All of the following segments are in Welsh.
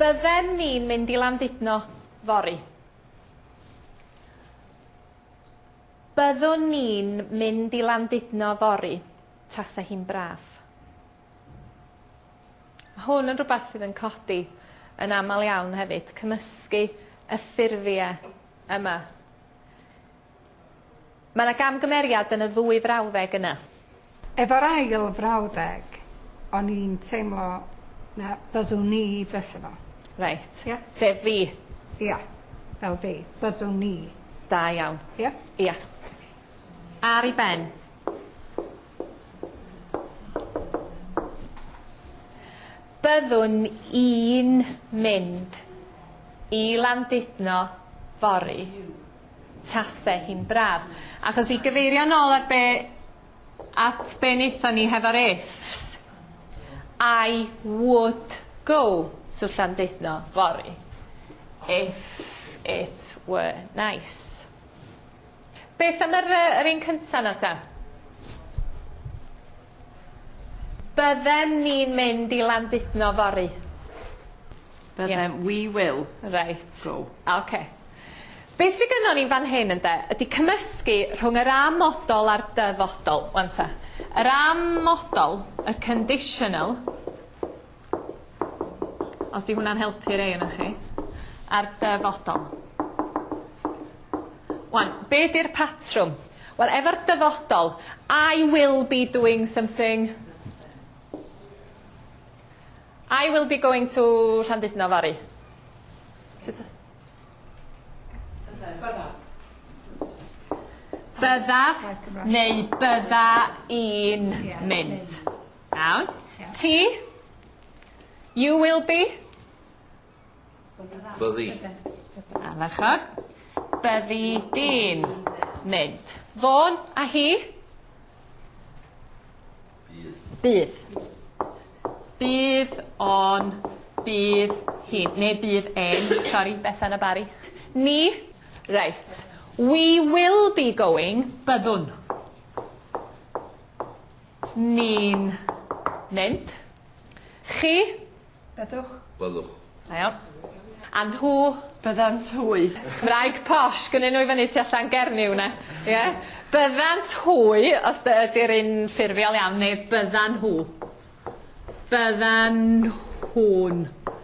Byddem ni'n mynd i Landudno fory. Byddwn ni'n mynd i Landudno fory, tase hi'n braf. Hwn yn rhywbeth sydd yn codi yn aml iawn hefyd, cymysgu y ffurfiau yma. Mae 'na gamgymeriad yn y ddwy frawddeg yna. Efo'r ail frawddeg, o'n i'n teimlo na byddwn i fysa fo. Reit. Ia? Sef fi. Ia, fel fi. Byddwn ni. Da iawn. Ia? Ia. Ar 'i ben. Byddwn i'n mynd i Landudno fory. tase hi'n braf. Achos i gyfeirio nôl ar be at be wnaethon ni hefo'r ifs, I would go to Llandudno fory if it were nice. Beth am yr yy yr un cynta 'na ta? Byddem ni'n mynd i Landudno fory. Byddem, yeah. we will. Reit. Go. OK. Be sydd gynnon ni'n fan hyn ynde, ydy cymysgu rhwng yr amodol a'r dyfodol. Wan ta. Yr amodol, y conditional, Os 'di hwnna'n helpu rei onoch chi. A'r dyfodol. Wan, be' 'di'r patrwm? Wel efo'r dyfodol I will be doing something. I will be going to Llandudno fory. Sut y- Byddaf. Byddaf neu bydda i'n mynd. Iawn. Ti? You will be? Byddi. Ardderchog. Byddi di'n mynd. Fôn a hi? Bydd. Bydd o'n... Bydd hi. Neu bydd e'n. Sori, Bethan a Barry. Ni? Reit. We will be going. Byddwn. Ni'n mynd. Chi. Byddwch. Byddwch. Da iawn. A nhw. Byddant hwy. Cymraeg posh gynnyn nhw i fyny tu allan Gernyw 'na. Ie? Byddant hwy os dy ydi'r un ffurfiol iawn neu byddan nhw. Byddan nhw'n.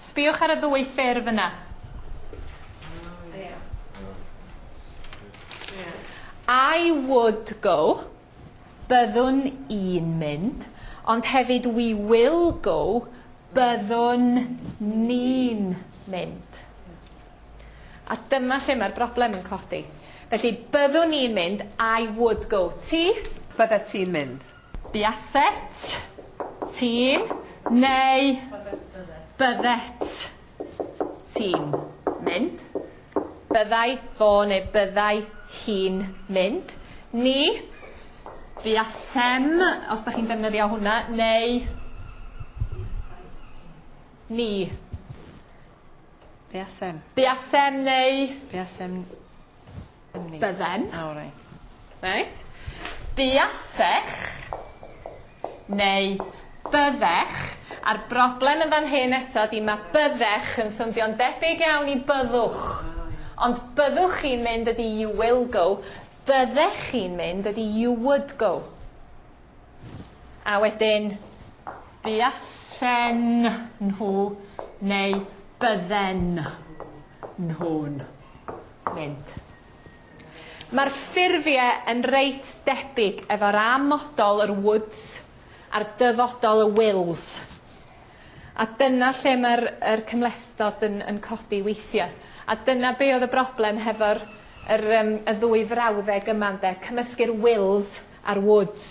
Sbïwch ar y ddwy ffurf yna. I would go, byddwn i'n mynd, ond hefyd we will go, byddwn ni'n mynd. A dyma lle mae'r broblem yn codi. Felly, byddwn ni'n mynd, I would go. Ti? Byddet ti'n mynd. Buaset, ti'n, neu byddet, ti'n, mynd. Byddai fo neu byddai hi'n mynd. Ni, buasem, os da chi'n defnyddio hwnna, neu ni. Buasem. Buasem neu... Buasem Bydden. O reit. Reit. Buasech neu byddech. A'r broblem yn fan hyn eto ydi ma' byddech yn swnddio'n debyg iawn i byddwch. Ond byddwch chi'n mynd ydi you will go. Byddech chi'n mynd ydi you would go. A wedyn buasen nhw neu bydden nhw'n. mynd. Mae'r ffurfiau yn reit debyg efo'r A modol yr Woods a'r Dyfodol y Wills. A dyna lle mae'r er cymhlethdod yn, yn codi weithiau. A dyna be oedd y broblem hefo'r yr, um, y ddwy frawddeg yma ynde, cymysgu'r Wills a'r Woods.